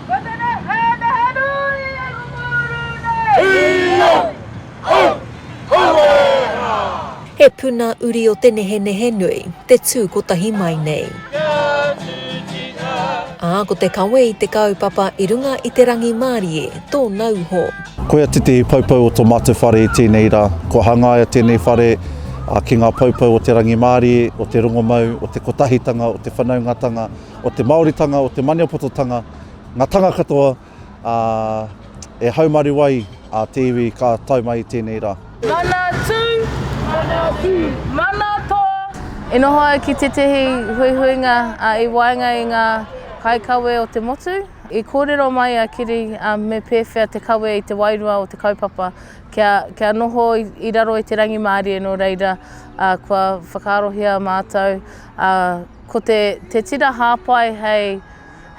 Ko tena hanaha nui e Ronguru nei! Ioi! Hau! Haueeraa! He puna uri o te nehenehe nui, te tū kotahi mai nei. Ā, ko te kawe i te kaupapa i runga i te rangimārie, tō nauho. Koia tētehi poupou o tō mātou whare i tēnei rā. Kua hangaia tēnei whare ki ngā poupou o te rangimārie, o te rongomau, o te kotahitanga, o te whanaungatanga, o te Māoritanga, o te Maniapototanga, ngā tanga katoa ā, e haumaru ai ā te iwi ka tae mai i tēnei rā. Mana tū! Mana tū! Mana tō! I noho au ki tētehi huihuinga i waenga i ngā kaikawe o te motu. I kōrero mai a Kiri me pēwhea te kawe i te wairua o te kaupapa kia, kia noho i raro i te rangimārie nō reira kua whakaarohia mātou Ko te, te tira hāpai hei,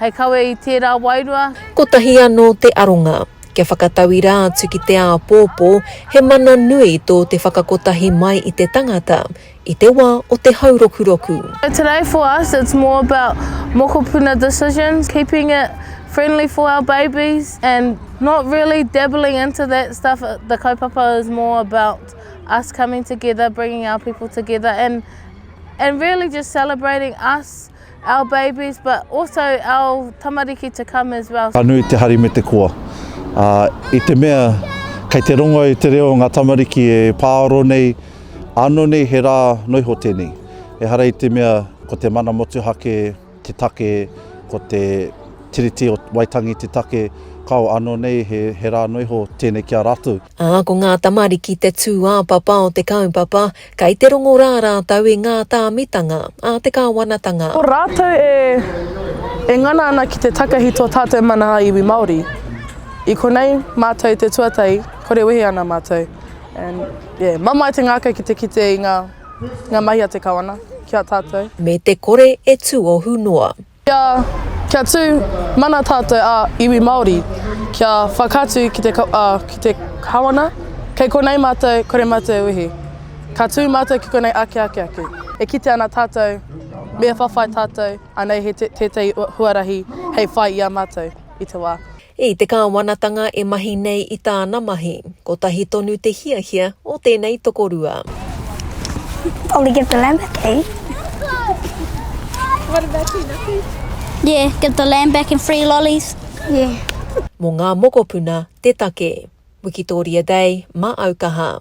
hei kawe i tērā wairua. Kotahi anō te aronga, kia whakatauirā atu ki te āpōpō, he mana nui tō te whakakotahi mai i te tangata, i te wā o te haurokuroku. So today for us it's more about mokopuna decisions, keeping it friendly for our babies and not really dabbling into that stuff, the kaupapa is more about us coming together, bringing our people together and. and really just celebrating us, our babies but also our tamariki to come as well. Ka nui te hari me te koa. Ā, i te mea kei te rongo i te reo o ngā tamariki e pāoro nei, ānō nei he rā noa iho tēnei. Ehara i te mea ko te mana motuhake te take, ko te Tiriti o Waitangi te take, kāo, ānō nei he rā noa iho tēnei ki a rātou. Ā, ko ngā tamariki te tūāpapa o te kaupapa, kei te rongo rā rātou i ngā tāmitanga a te Kāwanatanga. Ko rātou e, e ngana ana ki te takahi tō tātou mana a iwi Māori. I konei mātou te tuatahi, kore wehe ana mātou. And, yeah, mamae te ngākau ki te kite i ngā, ngā mahi a te Kawana ki a tātou. Me te kore e tuohu noa. Kia, kia tū mana tātou ā iwi Māori, kia whakaatu ki te, ā, ki te Kawana, kei konei mātou, kore mātou e wehi. Ka tū mātou ki konei ake ake ake. E kite ana tātou, me whawhai tātou, anei he tētahi huarahi hei whai i a mātou i te wā. I te kāwanatanga e mahi nei i tāna mahi, kotahi tonu te hiahia o tēnei tokorua. Probably give the lamb back, eh? What about you, Naki? Yeah, give the lamb back and free lollies. Yeah. Mō ngā mokopuna te take. Wikitoria Day, mā Aukaha.